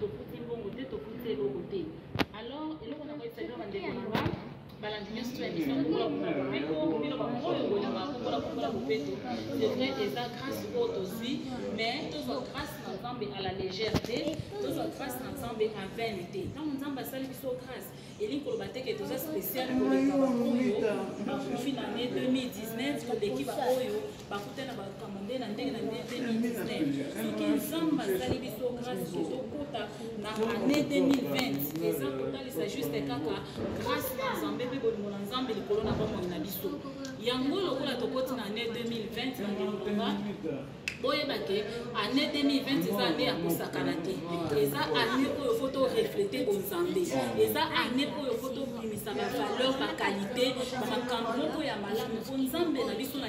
tofuti mbongo te tofuti eloko te alors eloko na koyebisa bino bandeko na nga balandi nyonso to ya misa kokola kokola mobeko bino baoyo bolingaka kokola kokola mobeko c'est vrai eza grâce oyo tozwi mais tozwa grâce na nzambe à la légère te tozwa grâce na nzambe à vaine te ntango nzambe asali biso grâce elingi koloba te ke toza spécial koleka baoyo bakufi na ne 2019 toleki baoyo bakutani na bakambo nde na ndenge na ndenge 2019 soki nzambe asali biso grâce tozokota na année 2020 eza kotalisa juste kaka grâce na nzambe mpe bolingo na nzambe likolo na bomoi na biso yango lokola tokoti na année 2020 na ndimboka boyeba ke année 2020 eza année ya kosakana te eza année oyo fo toreflete bonzambe eza année oyo fo tobimisa bavaleur bakalite bamakambo moko ya malamu mpo nzambe na biso na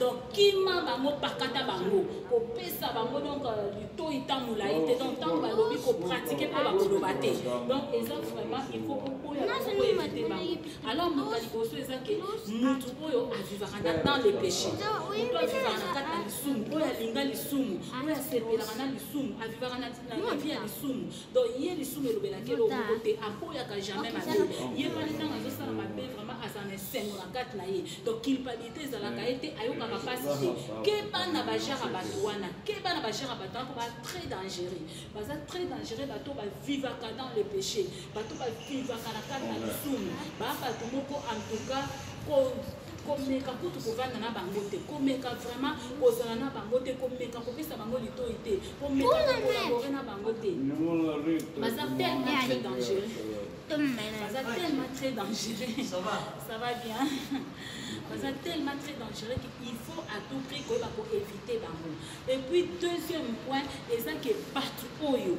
donc kima bango pakata bango kopesa bango donc litoi euh, ntango molai te donc ntango balobi kopratike mpo bakoloba te donc eza vraiment il faut kokoyakoyeba te bango alors moto ya liboso eza ke motu oyo avivaka na dans le péché moto avivaka na kati na lisumu oyo alinga lisumu oyo asepelaka na lisumu avivaka na vie ya lisumu donc ye lisumu elobelaki eloko moko te akoyaka jamais mabe ye wana ntango azosala mabe vraiment aza na esengo na kati na ye donc culpabilité ezalaka ye te ayokaka mpasi te keba na bajara bato wana keba na bajara bato wana mpo ba très dangereux baza très dangereux bato bavivaka dans le péché bato bavivaka na kati na lisumu baa bato moko en tout cas komeka kutu kovanda na bango te komeka vraiment kozala na bango te komeka kopesa bango litoi te komeka kokolabore na bango te baza tellement très dangereux baza tellement très dangereux ça va bien baza tellement très dangereux qu'il faut à tout prix koyeba koéviter bango et puis deuxième point eza ke bato oyo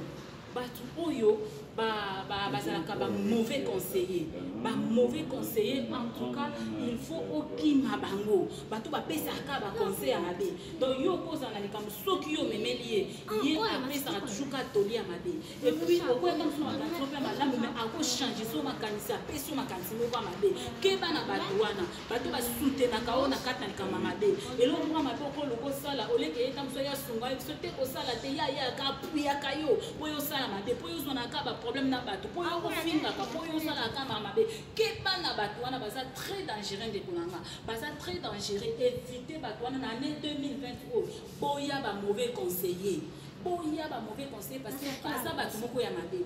bato oyo bazalaka ba, ba, ba mauvais conseiller ba mauvais conseiller en tout cas il faut okima bango bato bapesaka baconseil ya mabe donc yo okozala na likambo soki yo omemeli ye ye apesaka toujours ka toli ya mabe epuis okoyaka mosu na makanisi moko ya malamu mai akochange so makanisi apesi yo makanisi moko ya mabe keba na bato wana bato basutenaka oyo na kati na likambo ya mabe eloko moko mabe oko oloba osala oleke ye ntango soki asunga ye biso te kosala te ye ayaka apuyaka yo mpo yo osala mabe mpo yo ozwanaka baproblème na bato mpo yo ofingaka mpo yo osalaka kama mabe keba na bato wana baza très dangereux ndeko na nga baza très dangereux évite bato wana na année 2020 oyo boya ba mauvais conseiller boya ba mauvais conseiller parce que baza bato moko ya mabe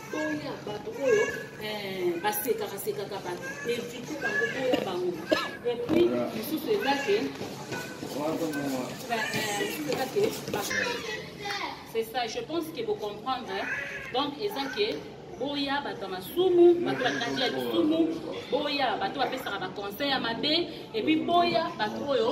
boya bato oyo eh, basekaka sekaka bato evite bango boya bango epuis mosusu eza ke c'est ça je pense que bocomprendre donc eza ke boya bato ya masumu bato bakati ya lisumu boya bato bapesaka baconseil ya mabe epuis boya bato oyo